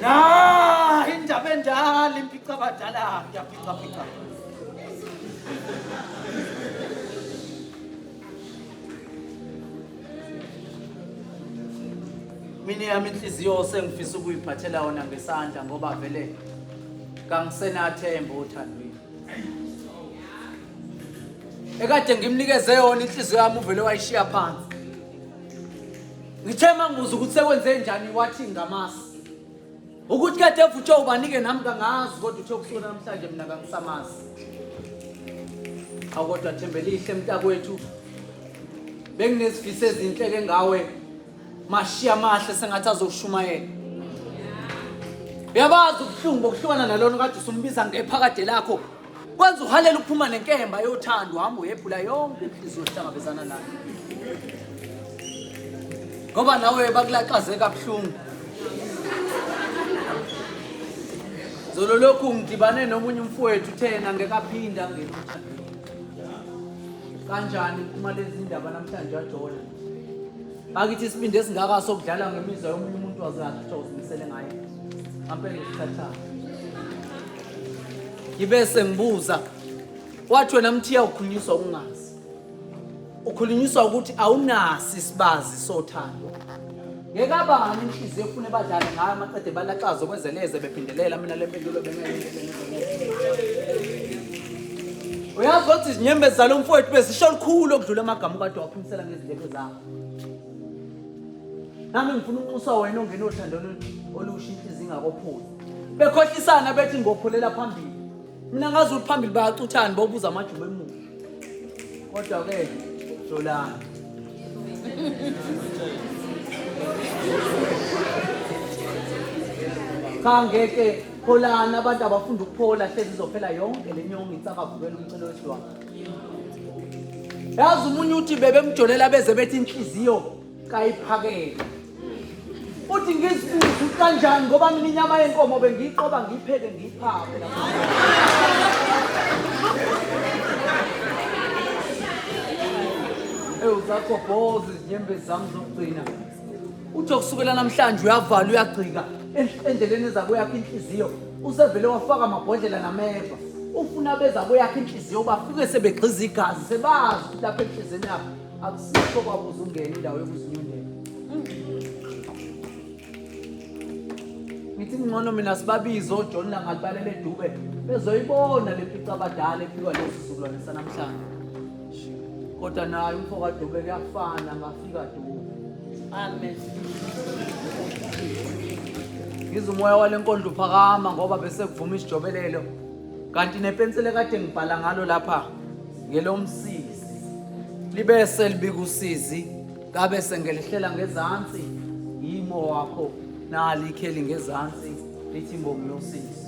Na indaba endala impica abadala ngiyaphica phica. Mina yami inhliziyo sengifisa ukuyiphathela wona ngesandla ngoba vele kangisenathemba othandweni. ekade ngimnikeze yona inhliziyo yami uvele wayishiya phansi ngithe mangibuza ukuthi sekwenze njani wathi ngamasi ukuthi kade evutshwe ubanike nami kangazi kodwa uthe kusuka namhlanje mina kangisamazi awu kodwa thembelihle mntakwethu benginezifiso ezinhle ke ngawe Mashi amahle sengathi azoshumayela. Uyabazi ubuhlungu bokuhlukana nalona kade usumbiza ngephakade lakho. Kwenza uhalela ukuphuma nenkemba yothando hamba uyephula yonke inhliziyo ohlangabezana nayo. Ngoba nawe bakulaxaze kabuhlungu. Zolo lokhu ngidibane nomunye umfowethu uthena ngekaphinda ngena. Kanjani uma lezi ndaba namhlanje wajola? bakithi isibindi esingaka sokudlala ngemizwa yomunye umuntu wazakhe kuthiwa uzimisele ngayo ngampela usithathayo ngibe sengibuza wathi wena mthiya ukhulunyiswa ukungazi ukhulunyiswa ukuthi awunasi isibazi sothando Ngekabani inhliziyo efune badlale ngayo amaqede balaxaza ukwenze neze bephindelela mina le mpendulo uyazi ukuthi izinyembezi zalo mfowethu bezisho lukhulu okudlula amagama ukade waphimisela ngezindlebe zakho nami ngifuna unxusa wena ongena othando olusha inhliziyo ingakophuzi bekhohlisana bethi ngophulela phambili mina ngazi ukuthi phambili bayacuthani bobuza amajuba emuva Kodwa ke Solani. Cha ngeke pholana abantu abafunda ukuphola hlezi izophela yonke le nyongo itsakavukela umcelo wesidwaba. Yazi umunye uthi bebemjolela beze bethi inhliziyo kayiphakele uthi ngizibuze ukuthi kanjani ngoba mina inyama yenkomo bengiyiqoba ngiyipheke ngiyiphake ewu zakho boze izinyembe zami zokugcina uthi okusukela namhlanje uyavala uyagcika endleleni ezabo yakhe inhliziyo usevele wafaka amabhodlela nameva ufuna beza kweyakhe inhliziyo bafike sebegxiza igazi sebazi ukuthi lapha enhliziyweni yakhe akusikho kwabo uzungena indawo yokuzinyundela ngithi ngcono mina sibabize ojohn nangalibalele edube bezoyibona le pica abadala ephikwa lesi sizukulwane sanamhlanje kodwa naye umfo kadube kuyafana ngafika dube amen ngize umoya wale nkondlo uphakama ngoba bese kuvuma isijobelelo kanti nepensile kade ngibhala ngalo lapha ngelomsizi libe selibika usizi ngabe sengelihlela ngezansi yimo wakho nali ikheli ngezansi lithi mbongi yosizi